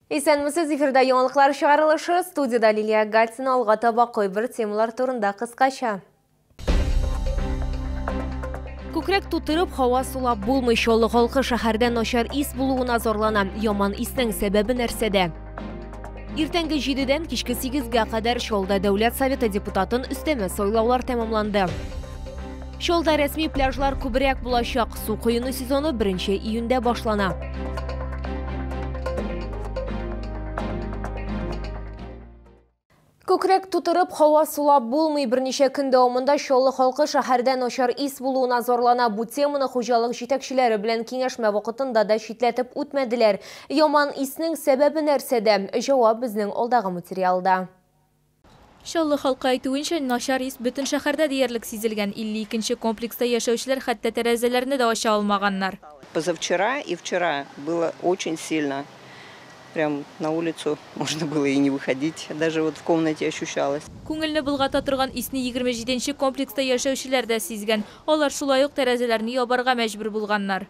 Исәнмесез, эфирда яңалыклар чыгарылышы, студиядә Лилия Гатина алга таба кайбер темалар турында кыскача. Күкрәк тутырып, һава сулап булмый Чаллы халкы шәһәрдә начар ис булуына зарлана. Яман иснең сәбәбе нәрсәдә? Иртәнге җидедән кичке сигезгә кадәр Чаллыда дәүләт советы депутатын өстәмә сайлаулар тәмамланды. Чалда рәсми пляжлар күбрәк булачак. Су коену сезоны 1 июньдә башлана. Күкрәк тутырып, һава сулап булмый. Берничә көн дәвамында Чаллы халкы шәһәрдә начар ис булуына зарлана. Бу теманы хуҗалык җитәкчеләре белән киңәшмә вакытында да читләтеп үтмәделәр. Яман иснең сәбәбе нәрсәдә? Җавап безнең алдагы материалда. Чаллы халкы әйтүенчә, начар ис бөтен шәһәрдә диярлек сизелгән. 52 нче комплекста яшәүчеләр хәтта тәрәзәләрне дә ача алмаганнар. Позавчера и вчера было очень сильно, прям на улицу можно было и не выходить, даже вот в комнате ощущалось. Күңелне болгата торган исне 27 нче комплекста яшәүчеләр дә сизгән. Алар шулай ук тәрәзәләрне ябарга мәҗбүр булганнар.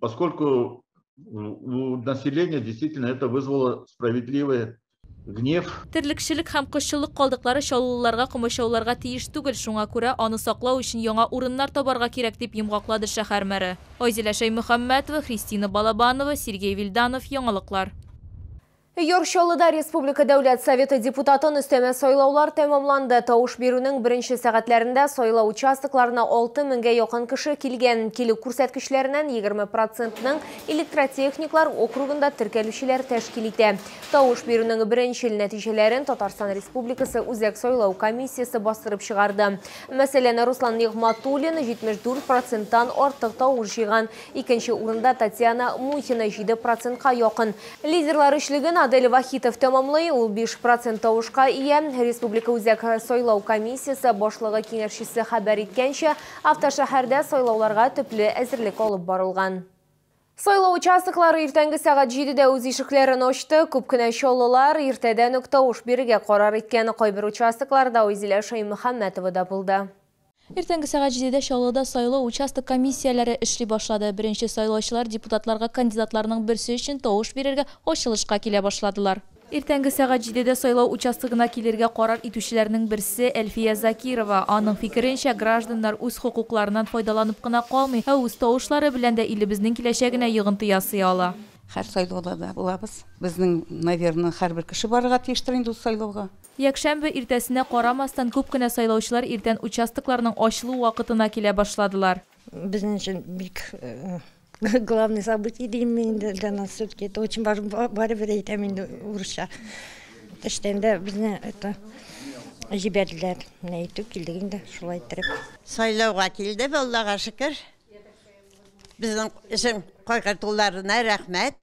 поскольку у населения действительно это вызвало справедливый гнев. Терлекчелек һәм кошчылык калдыклары чаллылыларга комачауларга тиеш түгел, шуңа күрә аны саклау өчен яңа урыннар табарга кирәк, дип йомгаклады шәһәр мэры. Айзилә Шәймөхәммәтова, Христина Балабанова, Сергей Вильданов, Яңалыклар. Яр Чаллыда республика Дәүләт Советы депутатын өстәмә сайлаулар тәмамланды. Тавыш бирүнең беренче сәгатьләрендә сайлау участокларына 6 меңгә якын кеше килгән. Килү күрсәткечләреннән 20 процентның электротехниклар округында теркәлүчеләр тәшкил итә. Тавыш бирүнең беренчел нәтиҗәләрен Татарстан Республикасы Үзәк сайлау комиссиясе бастырып чыгарды. Мәсәлән, Руслан Нигъматуллин 74 проценттан артык тавыш җыйган. Икенче урында Татьяна Мухина 7 процентка якын. Лидерлар өчлеген Адель Вахитов тәмамлый, ул биш процент тавышка ия. Республика Үзәк сайлау комиссиясе башлыгы киңәшчесе хәбәр иткәнчә, автошәһәрдә сайлауларга төпле әзерлек алып барылган. Сайлау участоклары иртәнге сәгать җидедә үз ишекләрен ачты. Күп кенә чаллылар иртәдән үк тавыш бирергә карар иткән. Кайбер участокларда Айзилә Шәймөхәммәтова да булды. Иртәнге сәгать җидедә Чаллыда сайлау участок комиссияләре эшли башлады. Беренче сайлаучылар депутатларга кандидатларның берсе өчен тавыш бирергә ачылышка килә башладылар. Иртәнге сәгать җидедә сайлау участогына килергә карар итүчеләрнең берсе, Әлфия Закирова. Аның фикеренчә, гражданнар үз хокукларыннан файдаланып кына калмый, ә үз тавышлары белән дә илебезнең киләчәгенә йогынты ясый ала. Һәр сайлауда да булабыз. Безнең, наверно, һәрбер кеше барырга тиештер инде ул сайлауга. Якшәмбе иртәсенә карамастан күп кенә сайлаучылар иртән участокларның ачылу вакытына килә башладылар. Безнең өчен бик главный событие дим мин инде, для нас всё-таки это очень важно, барыбер әйтәм инде урысча. Эштән дә безне это җибәрделәр, менә иртүк килдек инде шулай иттереп. Сайлауга килдек, Аллага шөкер. Безнең өчен кайгыртуларына рәхмәт.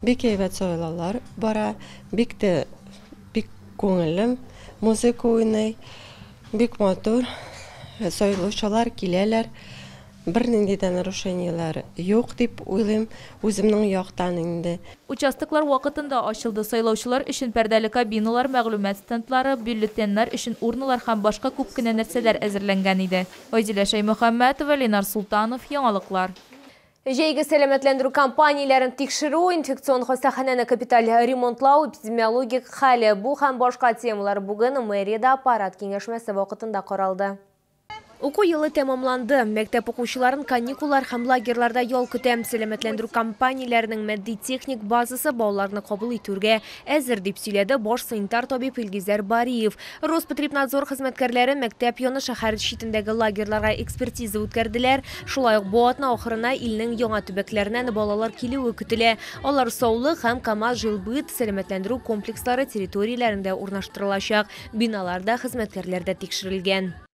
Бик әйбәт сайлаулар бара, бик тә бик күңелле, музыка уйный, бик матур, сайлаучылар киләләр, бернинди дә нарушениеләр юк дип уйлыйм, үземнең яктан инде. Участоклар вакытында ачылды, сайлаучылар өчен пәрдәле кабиналар, мәгълүмат стендлары, бюллетеньнар өчен урналар һәм башка күп кенә нәрсәләр әзерләнгән иде. Айзилә Шәймөхәммәтова, Ленар Солтанов, Яңалыклар. Җәйге сәламәтләндерү кампанияләрен тикшерү, инфекцион хастаханәне капиталь ремонтлау, эпидемиологик хәл, бу һәм башка темалар бүген мэриядә аппарат киңәшмәсе вакытында каралды. Уку елы тәмамланды. Мәктәп укучыларын каникуллар һәм лагерьларда ял көтә. Сәламәтләндерү кампанияләренең матди-техник базасы балаларны кабул итүргә, Әзер, дип сөйләде баш санитар табиб Илгизәр Бариев. Роспотребнадзор хезмәткәрләре мәктәп яны шәһәр читендәге лагерьларга экспертиза үткәрделәр. Шулай ук бу атна ахырына илнең яңа төбәкләреннән балалар килүе көтелә. Алар Саулык һәм Кама жилбыт сәламәтләндерү комплекслары территорияләрендә урнаштырылачак. Биналар да, хезмәткәрләр дә тикшерелгән.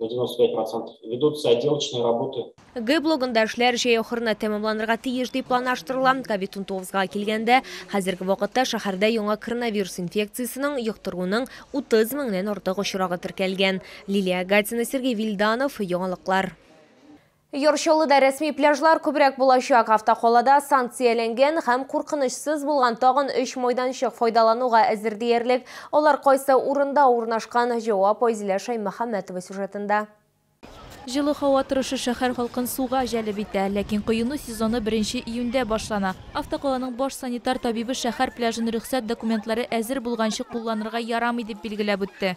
на 95% ведутся отделочные работы. Г блогында эшләр җәй ахырына тәмамланырга тиеш дип планлаштырыла. COVID-19га килгәндә, хәзерге вакытта шәһәрдә яңа коронавирус инфекциясенең йоктыруның 30 меңнән артык очрагы теркәлгән. Лилия Агатина, Сергей Вильданов, Яңалыклар. Яр Чаллыда рәсми пляжлар күбрәк булачак. Автокалада санкцияләнгән һәм куркынычсыз булган тагын өч майданчык файдалануга әзер диярлек. Алар кайсы урында урнашкан, җавап Айзилә Шаймөхәммәтова сюжетында. Җылы һава торышы шәһәр халкын суга җәлеп итә. Ләкин коену сезоны беренче июньдә башлана. Автокаланың баш санитар табибы шәһәр пляжын рөхсәт документлары әзер булганчы кулланырга ярамый дип билгеләп үтте.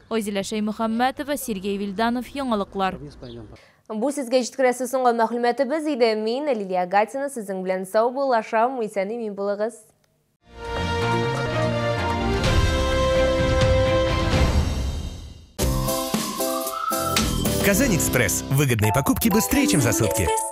Айзилә Шәймөхәммәтова, Сергей Вильданов, Яңалыклар. Бу сезгә җиткерәсе соңгы мәгълүматыбыз иде. Мин, Лилия Гатина, сезнең белән саубуллашам, исән-имин булыгыз. Казань-Экспресс. Выгодные покупки быстрее, чем за сутки.